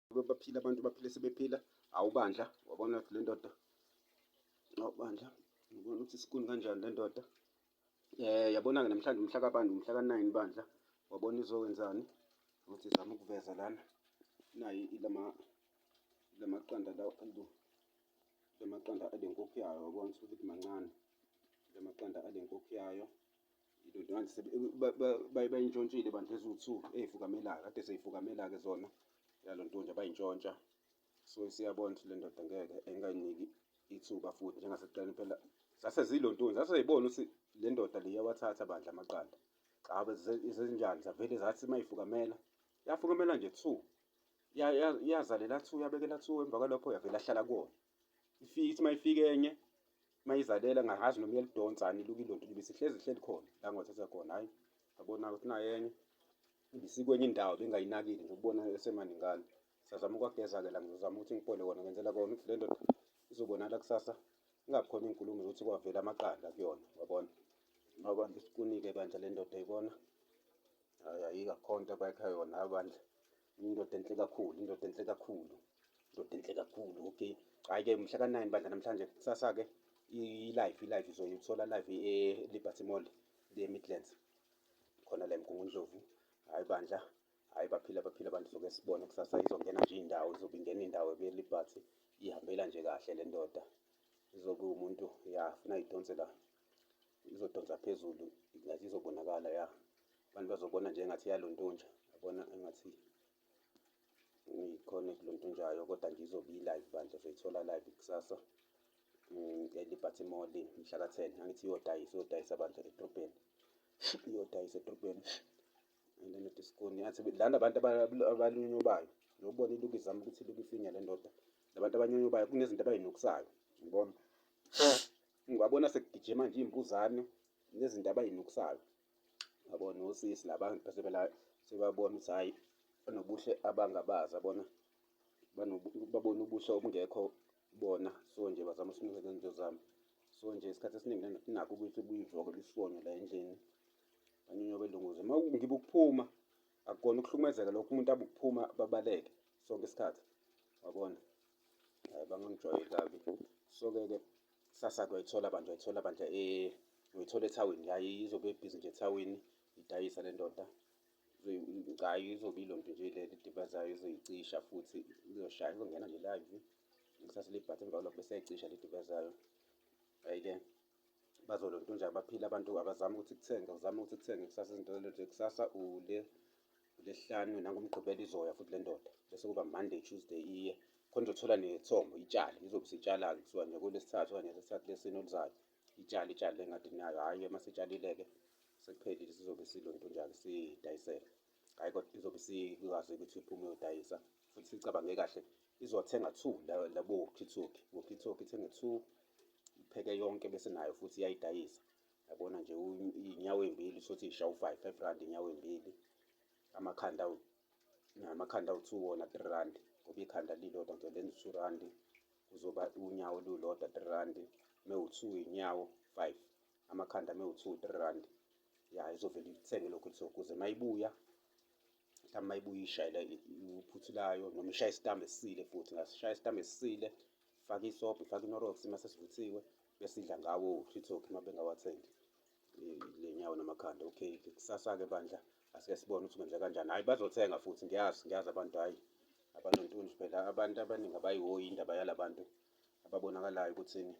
Ngoba baphila abantu baphile sebephila awubandla wabona ukuthi le ndoda awubandla ngibona ukuthi isikuni kanjani le ndoda eh yabona-ke namhlanje umhla kabani umhla ka-nine bandla wabona izokwenzani ukuthi izama ukuveza lana nayi ilama lamaqanda lawo lamaqanda alenkukhu yayo wabona ukuthi mancane lamaqanda alenkukhu yayo bayintshontshile bandla eziwu-two eyifukamelayo kade seyifukamela-ke zona yalo ntonja bayintshontsha so siyabona ukuthi le ndoda ngeke engayiniki ithuba futhi njengasekuqaleni phela zase zilo ntonja zase yibona ukuthi le ndoda le iyawathatha bandla amaqanda cabe zezinjani zavele zathi uma yifukamela yafukamela nje two yazalela two yabekela two emva kwalokho yavele ahlala kuwona ifike ithi mayifike enye mayizalela ngahazi noma yelidonsani luki lonto libe sihlezi hleli khona la ngothatha khona hayi ngabona ukuthi nayo enye ibisikwenye indawo bengayinakile nje ukubona esemaningana sazama ukwageza-ke la ngizozama ukuthi ngipole kona ngenzela kona ukuthi le ndoda izobonala kusasa ingabi khona inkulumo zokuthi kwavela amaqanda kuyona wabona wabona isikunike bandla le ndoda ibona Hayi ayika khonto kwekhe yona abandla. Indoda enhle kakhulu, indoda enhle kakhulu. Indoda enhle kakhulu. Okay. Hayi ke mhla ka-9 bandla namhlanje kusasa ke i-live i-live uzoyithola live e-Liberty Mall le Midlands. Khona la eMgungundlovu. Hayi bandla. Hayi baphila baphila abantu soke sibone kusasa izongena nje indawo izobe ingena indawo be-Liberty ihambela nje kahle le ndoda. Izobe umuntu yafuna idonse la. izodonsa phezulu ngathi izobonakala ya abantu bazobona nje engathi iyalontunja yabona engathi ngikhona ekulontunjayo kodwa nje izobe i-live bandla zoyithola live kusasa mm, elibathi moli mhla ka-ten angithi iyodayisa iyodayisa bandla edrobheni iyodayisa edrobheni and then etisikoni athi lana abantu abalunyubayo nokubona iluku izama ukuthi iluku ifinya le ndoda labantu abanyunyubayo kunezinto abayinuksayo ngibona Ngibabona sekugijima nje iy'mbuzane nezinto abay'nukusayo. Yabona osisi labantu bese phela sebabona ukuthi hhayi banobuhle abangabazi yabona. Babona ubuhle obungekho kubona so nje bazama ukunukisa ngezinto zami. So nje isikhathi esiningi lena inakho ukuthi kuyivoko lisifonyo la endlini. Banyunywa belunguza. Uma ngibe ukuphuma akukona ukuhlukumezeka lokho umuntu abukuphuma babaleke sonke isikhathi. Wabona? Eh, bangangijwayeli kabi so-ke ke kusasa kuyayithola bandla uyayithola bandla um uyithola ethawini hhayi izobe ibhizi nje ethawini idayisa le ndoda hhayi izobe ilo nto nje le lidivazayo izoyicisha futhi izoshaya izongena nje live kusasa libhathe emva kwalokho bese yayicisha lidivazayo hhayi-ke bazolontunja baphile abantu abazama ukuthi kuthenge uzama ukuthi kuthenge kusasa izinto nje kusasa ule lesihlanu nangomgqibelo izoya futhi le ndoda bese kuba monday tuesday iye khona uzothola nethombo itshali lizobe sitshala-ke kusuka nje kulesithathu okanye lesithathu lesini oluzayo itshali itshali lengadini yayo hhayi uma sitshalile-ke sekuphelile sizobe silontunja-ke sidayisele hhayi kodwa izobe isingazi ukuthi iphume yodayisa futhi sicabange kahle izothenga two labo walkie-talkie walkie-talkie ithenge two ipheke yonke bese nayo futhi iyayidayisa yabona nje iy'nyawo ey'mbili sothi ishawu five five rand iy'nyawo ey'mbili amakhanda awu amakhanda awu-two wona three rand ngoba ikhanda lilodwa nje lenza u-two randi kuzoba unyawo olulodwa three randi mewu-two iy'nyawo five amakhanda mewu 2 3 rand ya izovela ithenge lokho so kuze mayibuya mhlawumbe mayibuya ishayela uphuthulayo noma ishaya isitambu esisile futhi ngasishaya isitambu esisile faka isobho faka inorox uma sesivuthiwe besidla ngawo uthithoki uma bengawathengi le nyawo namakhanda okay kusasa-ke bandla asike sibone ukuthi kwenza kanjani hhayi bazothenga futhi ngiyazi ngiyazi abantu hhayi abanontunzi phela abantu abaningi abayihoyi indaba yalabantu ababonakalayo ukuthini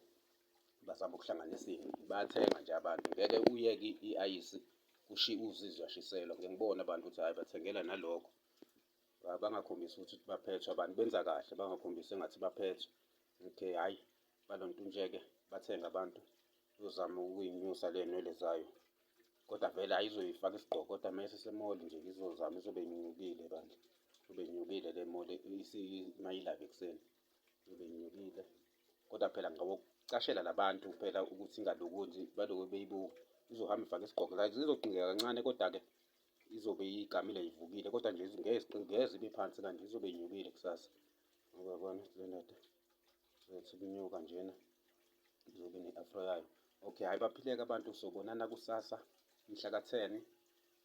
bazama ukuhlanganisa impi bayathenga nje abantu ngeke uyeke i-ayisi kushi uzizwe ashiselwa ngike ngibone abantu ukuthi hhayi bathengela nalokho bangakhombisi ukuthi baphethwe abantu benza kahle bangakhombisi engathi baphethwe okay hhayi balontuntsheke bathenga abantu uzama ukuyinyusa le nywele zayo kodwa vele ayizoyifaka isigqoko kodwa uma isesemoli nje izozama izobe inyukile bandla izobe inyukile le moli mayilave ekuseni izobe inyukile kodwa phela ngawocashela labantu phela ukuthi ingalukuthi baloku beyibuka izohamba ifake isigqoko like izoqingeka kancane kodwa-ke izobe igamile ivukile kodwa nje ngeze ibe phansi kanje izobe inyukile kusasa ngoba yabona le ndoda izothi kunyuka njena izobe ne-afro yayo okay hhayi baphileke abantu sobonana kusasa mhla ka-ten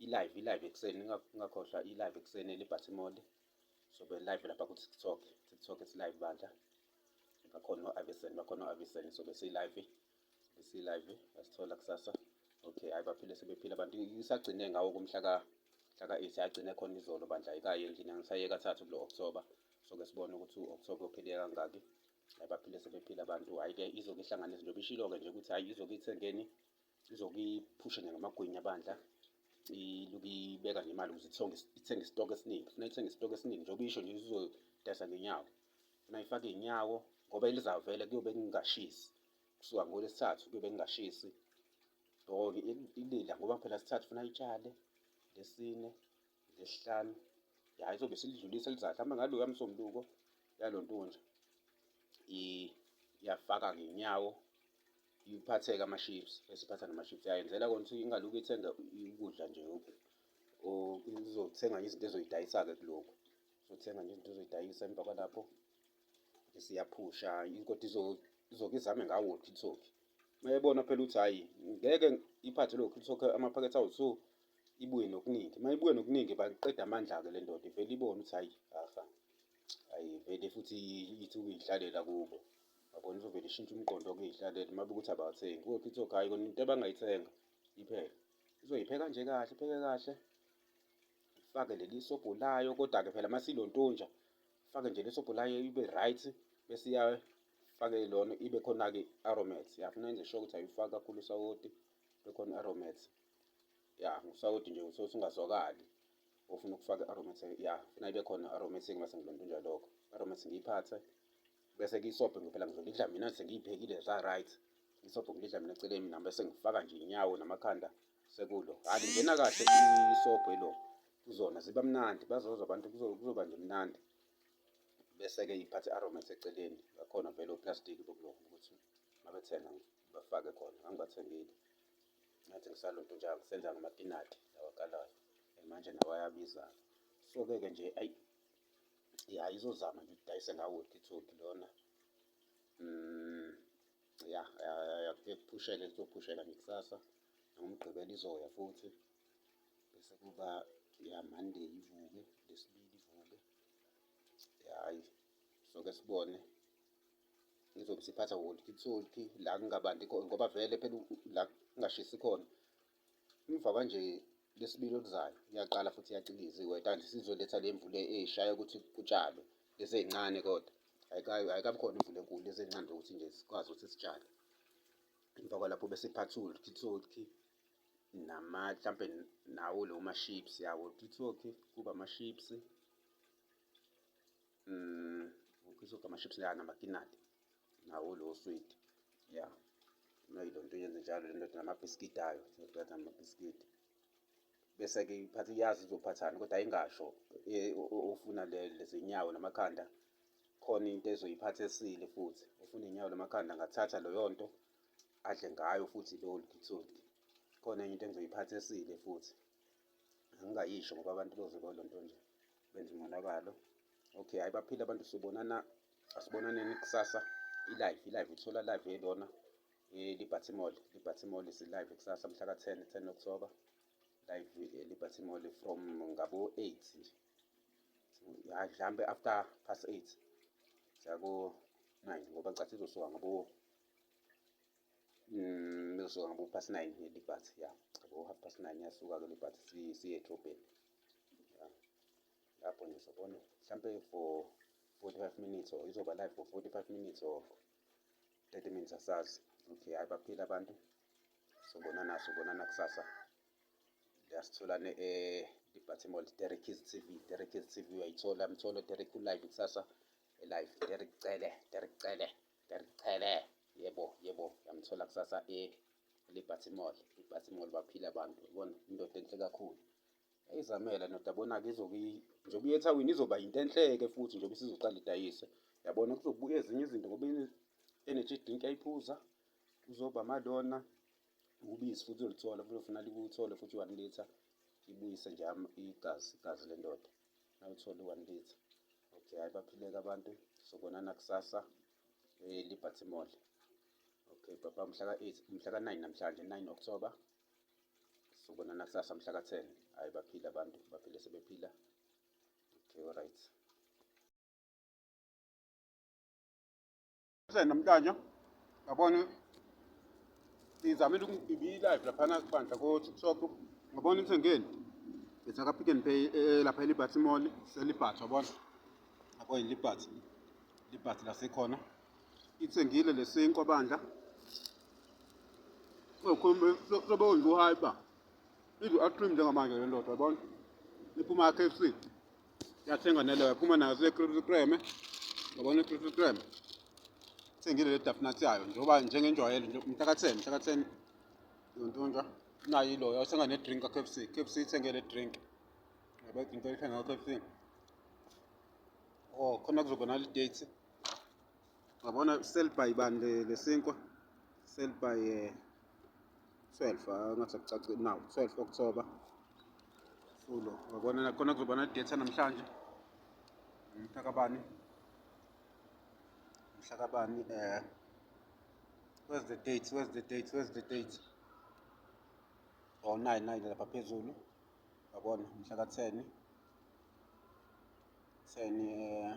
i-live i-live ekuseni ungakhohlwa i-live ekuseni elibhathimoli sobe live lapha ku-tiktok tiktok is live bandla bakhona o-avisen bakhona o-avisen so besilive besilive basithola kusasa okay hayi baphile sebephila abantu isagcine ngawo kumhla ka hlaka eight agcine khona izolo bandla ayikaye endlini angisayeka thathu kulo october so ke sibone ukuthi u-october uphele kangaki hayi baphile sebephila abantu hhayi-ke izoke ihlangane izinto bishilo-ke nje ukuthi hhayi izoke ithengeni izokuyiphusha nje ngamagwinya bandla ilukibeka nemali ukuze ithenge isitoko esiningi funa ithenge isitoko esiningi njengoba isho nje izodayisa ngenyawo funa ifake iy'nyawo ngoba elizavele kuyobe kungashisi kusuka ngolesithathu kuyobe kungashisi ngoke ilila ngoba phela sithathu funa itshale lesine lesihlanu ya izobe silidlulisa elizathu hamba ngalo yamsomluko yalontunja iyafaka ngenyawo iphatheke ama-chips esiphatha nama-chips ayenzela kona ukuthi ingalokhu ithenga ukudla nje izothenga izinto ezoyidayisa-ke kulokhu izothenga nje izinto ezoyidayisa emva kwalapho siyaphusha inkoti izoke izame ngawo walkie-talkie uma ebona phela ukuthi hhayi ngeke iphathe lo walkie-talkie amaphakethe awu-two ibuye nokuningi uma ibuye nokuningi baqeda amandla-ke le ndoda ivele ibone ukuthi hhayi afa hhayi vele futhi ithi ukuyihlalela kubo Yabona izovele ishintshe umqondo kuyihlalele uma ukuthi abawathengi. Kuwe futhi uthi hhayi kona into abangayithenga iphele. Uzoyipheka nje kahle, ipheke kahle. Ifake leli sobho layo kodwa-ke phela uma silontunja fake nje lesobho layo ibe right bese iyafake lona ibe khona-ke aromat yafuna enze sure ukuthi ayifaki kakhulu usawoti bekhona aromat ya ngusawoti nje uthole ungazwakali ofuna ukufaka i-aromat ya funa ibe khona aromat-ke uma sengilontunja lokho aromat ngiyiphathe bese ke isobho ngiphela ngizolidla mina sengiyiphekile za-right isobho ngilidla mina eceleni mina bese ngifaka nje inyawo namakhanda sekulo hhayi ngena kahle isobho elo kuzona ziba mnandi bazozwa abantu kuzoba nje mnandi bese-ke iphathi i-aromat eceleni bakhona vele oplastiki bokulokhu ukuthi mabethenga bafake khona ngangibathengile ngathi ngisalonto nje senza ngamakinati lawakalayo manje nawayabiza so-ke ke nje ayi ya izozama nje ukudayise ngawo walkie-talkie lona mm, ya kuphusheke kuzophusheka ngekusasa ngomgqibelo izoya futhi bese kuba ya monday ivuke lesibili ivuke hayi soke sibone ngizobe siphatha walkie-talkie la kungabandi khona ngoba vele phela la kungashisi khona Emva kwanje lesibili okuzayo iyaqala futhi iyaciliza iweta nje sizoletha le mvula eyishaya ukuthi kutshalwe lezi ezincane kodwa ayikabi khona imvula enkulu lezi ezincane nje ukuthi nje sikwazi ukuthi sitshale emva kwalapho bese iphathula uthithoki nama mhlampe nawo lo ma-ships yawo uthithoki kuba ama-ships Mm, ukhisa uga ama-chips lawa namakinati nawo lo sweet ya mayilo nto yenze njalo le ndoda namabhiskidi ayo ndoda namabhiskidi bese-ke iphatha iyazi izophathani kodwa ayingasho ofuna lezinyawo namakhanda khona into ezoyiphatha esile futhi ofuna inyawo lamakhanda angathatha loyo nto adle ngayo futhi lowo litholi khona enye into engizoyiphatha esile futhi angingayisho ngoba abantu boze bayo lonto nje benza umonakalo okay hayi baphile abantu sibonana asibonaneni kusasa i-live i-live uthola live yelona liberty mall liberty mall si-live kusasa mhla ka-10 10 october live liberty mall from ngabo-8 nje hayi mhlampe after past 8 siyako-9 ngoba cathi izosuka ngabo Mm, bezosuka ngabo past 9 ngelibhath ya ngabo half past 9 yasuka ke libhath siye edrobheni lapho nje sobona mhlampe for 45 minutes or izoba live for 45 minutes or 30 minutes asazi okay hayi baphila abantu sobonana sobonana kusasa yasitholane eh libhath mall derekis tv derekis tv uyayithola mtholo derek ulive kusasa live derek cele derek cele Ngarichele. Yebo, yebo, yamthola kusasa e Liberty Mall. Liberty Mall baphila abantu. Ubona indoda enhle kakhulu. Ayizamela ndoda bona-ke izobe njengoba uye ethawini izoba yinto enhle-ke futhi njengoba isizoqala idayise. Yabona kuzobuya ezinye izinto ngoba energy drink yayiphuza, kuzoba amalona. ubisi futhi uyolithola futhi ufuna likuthole futhi one liter ibuyise nje igazi igazi lendoda nawuthole one liter okay hayi baphileke abantu sobonana kusasa e-liberty eh, mall okay baba mhla ka-eight mhla ka-nine namhlanje nine october sobonana kusasa mhla ka-ten hhayi baphile abantu baphile sebephila okay alright Sasa namhlanje ngabona ngizamile ibiyilayive laphana kubandla ko-tiktok ngabona ukuthi ngeni ngithi akapick and pay eh, lapha elibathi mall selibhathi wabona yabo yini libhathi libhathi lasekhona ithengile lesinkwa bandla sobe wenza uhayi ba izu-atrim njengamanje le ndoda yabona iphuma yakhe ebusuku Yathenga nele waphuma nazo eCrispy Kreme. Yabona iCrispy Kreme. Thengile le Daphnut yayo njengoba njengenjwayelo nje umntaka 10 umntaka 10 yontunjwa nayo iloyo uthenga ne drink ka KFC. KFC ithenge le drink. Yabo drink elithenga ka KFC. Oh khona kuzobona le date. Ngabona selibhayi bani lesinkwa selibhayi 12 eh, angathi akucaci now 12 October fulo ngabona nakhona kuzoba na date namhlanje mthakabani mhlakabani eh where's the date where's the date where's the date oh 9 9 lapha phezulu yabona mhla ka 10 10 eh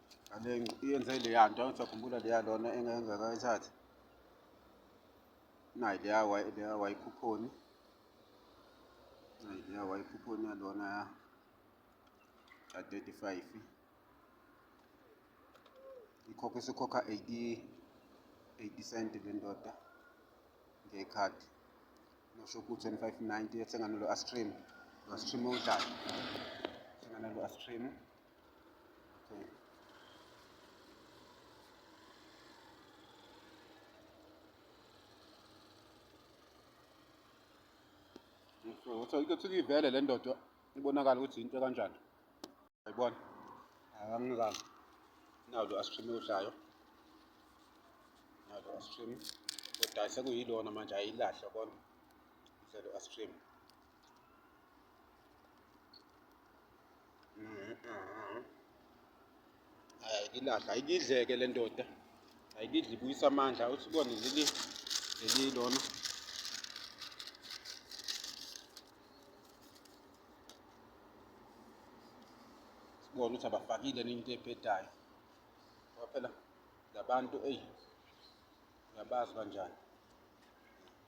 yenze leya nto ngisakhumbula leya lona engangakayithathi nayi leya leya wayikhuphoni nayi leya wayikhuphoni yalona ya ka 35 ikhokha isikhokha 80 80 cent le ndoda ngekhadi nosho ku 2590 yathenga nalo astream astream odlala thenga nalo astream so ukuthi kivele le ndoda ibonakala ukuthi yinto kanjani ayibona akangikazi nalo asishimi udlayo nalo asishimi kodwa sekuyilona manje ayilahle kodwa nhlelo asishimi ayikilahla ayikidleke le ndoda ayikidla ibuyisa amandla uthi ubone leli leli lona sibone ukuthi abafakile into ebhedayo phela labantu eyi uyabazi kanjani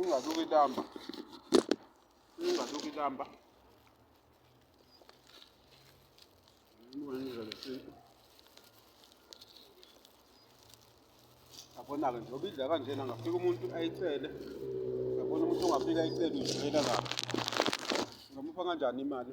Ingalokhu ilamba. Ingalokhu ilamba. Ngiyizwa lesintu. Yabona-ke nje obidla kanjena ngafika umuntu ayicele. Yabona umuntu ongafika ayicele uyivelela lapho. Ngamupha kanjani imali?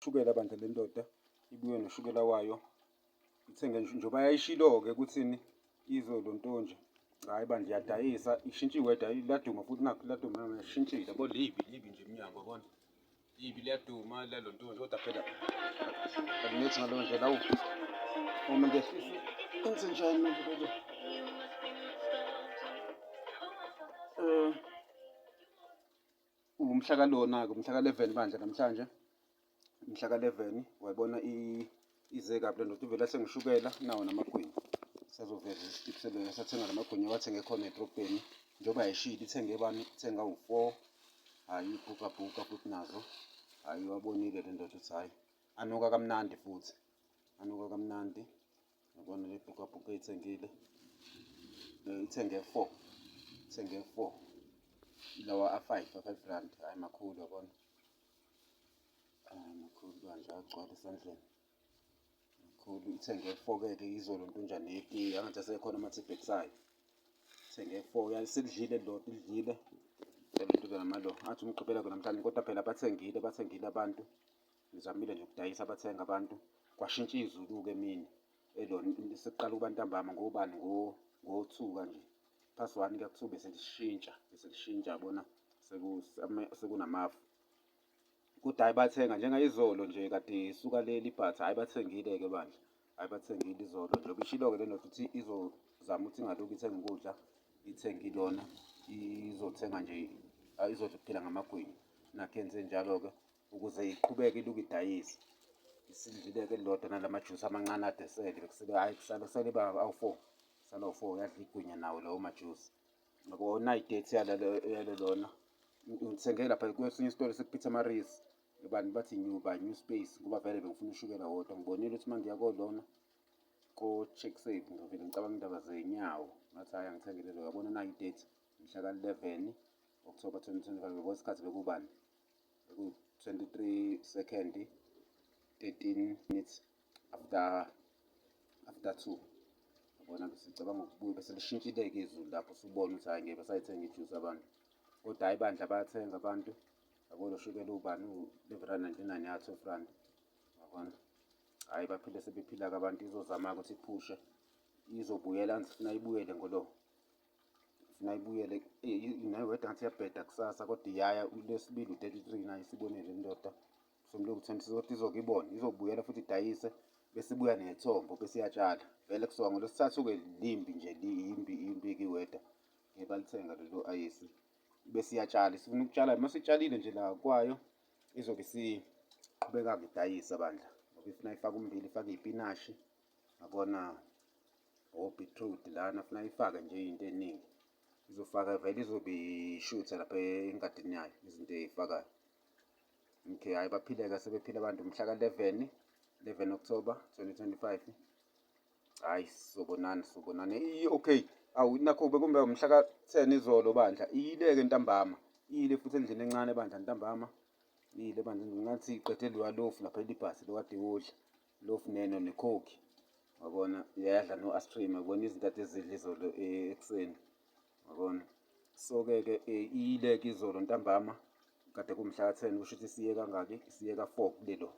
Shukela bandla le ndoda ibuye noshukela wayo ithenge njengoba yayishilo-ke ukuthini izo lo ntonje hhayi bandla iyadayisa ishintshiwe laduma futhi nakho laduma yashintshile yabo libi libi nje emnyango yabona libi liyaduma lalo ntonje kodwa phela alinethi ngaleyo ndlela awu uma ngehlisa enze njani manje bebe um Ngumhla ka lona-ke umhla ka 11 bandla namhlanje umhla ka 11 wayibona ize kabi le ndoda uvele asengishukela nawo namagwinya sazoveza isiphiselelo yasathenga la magwinya wathenge khona edrobheni njengoba yayishile ithenge bani ithenga u-four hhayi ibhukabhuka futhi nazo hhayi wabonile le ndoda ukuthi hhayi anuka kamnandi futhi anuka kamnandi Yabona le bhukabhuka eyithengile. Eh, ithenge 4. Ithenge 4. Lawa a 5, a 5 rand. Hayi makhulu yabona. Hayi makhulu kanje agcwala esandleni. Makhulu ithenge 4 ke ke izolo ntunjane yetiye angathi asekhona ama tibet sayo. Ithenge 4 yayisilidlile lodwa idlile. Lento namalo. Athi umgqibela ke namhlanje kodwa phela bathengile bathengile abantu. Ngizamile nje ukudayisa bathenga abantu kwashintsha izulu-ke emini elona sekuqala ukuba ntambama ngobani ngo-two kanje past one kuya ku-two bese lishintsha bese lishintsha yabona sekunamafu kuthi hhayi bathenga njengayizolo nje kade suka leli but hhayi bathengile-ke bandla hhayi bathengile izolo nje obishilo-ke le ndoda ukuthi izozama ukuthi ingalokhu ithenga ukudla ithenge ilona izothenga nje izodla ukuphila ngamagwinya nakhe enze njalo-ke ukuze iqhubeke ilokhu idayisa isilileke lilodwa nalamajusi amancane adesele bekusele hayi kusale kusale ba awu-four kusale awu-four uyadla igwinya nawo lawo majusi ngoba onayidethi yalo lona ngithenge lapha kwesinye isitolo sekuphitha amarisi abantu bathi new by new space ngoba vele bengifuna ushukela wodwa ngibonile ukuthi uma ngiya kolona ko-check safe ngivele ngicabanga indaba zenyawo ngathi hhayi angithengele lo yabona nayo idate mhla ka-11 october 2025 ngoba isikhathi bekubani 23 second 13 minutes after after 2 yabona besicabanga ukubuya bese lishintshile-ke izulu lapho usubona ukuthi hhayi ngeke basayithenga ijuice abantu kodwa hhayi bandla bayathenga abantu yabona ushukela ubani u-11 rand 99 ya 12 rand yabona hhayi baphile sebephila-ke abantu izozama-ke ukuthi iphushe izobuyela ngifuna ibuyele ngolo funa ibuyele nayo weda ngathi yabheda kusasa kodwa iyaya lesibili u-thirty three nayo isibonele indoda somntu okuthembisa ukuthi izokibona izobuyela futhi idayise bese ibuya nethombo bese iyatshala vele kusuka ngolwesithathu-ke limbi nje liyimbi imbi-ke iweda ngebalithenga lelo ayisi bese iyatshala isifuna ukutshala uma sitshalile nje la kwayo izobe isiqhubeka ngidayisa bandla ngoba ifuna ifake umbili ifake iy'pinashi yabona or beetroot lana funa ifake nje into eningi izofaka vele izobe ishutha lapha engadini yayo izinto eyifakayo okay hayi baphileka sebephila abantu mhla ka-11 11 october 2025 hayi sobonani sobonani okay awu nakho bekumbe mhla ka-10 izolo bandla iyileke ntambama iyile futhi endlini encane bandla ntambama iyile bandla ngathi iqede liwalofu lapha elibhasi lokade wodla Loaf neno nekhokhi wabona uyayadla no-asprim yabona izinto ade zidla izolo eh, ekuseni wabona so-ke ke eh, iyileke izolo ntambama kade kumhla ka-ten kusho ukuthi siye kangaki siye ka-four kulelo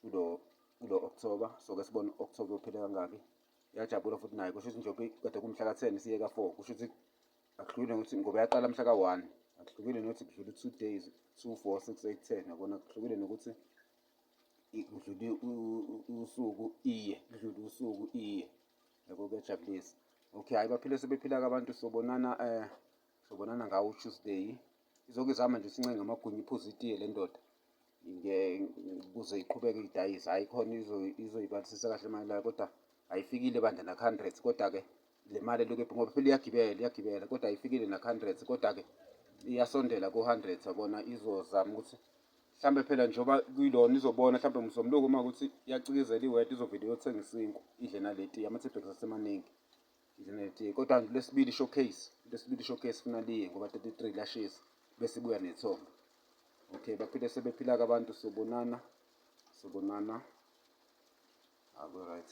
kulo kulo october so-ke sibone october uphele kangaki yajabula futhi naye kusho ukuthi njengoba kade kumhla ka-ten siye ka-four kusho ukuthi akuhlukile nokuthi ngoba yaqala mhla ka-one akuhlukile nokuthi kudlula two days two four six eight ten yabona kuhlukile nokuthi kudlule usuku iye kudlule usuku iye yabo kuyajabulisa okay hayi baphile sebephila-ke abantu sobonana um eh, sobonana ngawo tuesday izokizama nje since ngamagunya iphuza itiye le ndoda kuze iqhubeke idayise hayi khona izoyibalisisa kahle imali layo kodwa ayifikile bandla nak-hundred kodwa-ke le mali elokhu ngoba phela iyagibela iyagibela kodwa ayifikile naku-hundred kodwa-ke iyasondela ku-hundred yabona izozama ukuthi mhlawumbe phela njengoba kuyilona izobona mhlawumbe mzomlungu uma ukuthi iyacikizela iweta izovele iyothenga isinkwa idle naleti ama-tibek sasemaningi idle naleti kodwa lesibili showcase lesibili showcase funa liye ngoba 33 lashisa bese ibuya nethongo okay baphile sebephila-ke abantu sobonana sobonana aku-right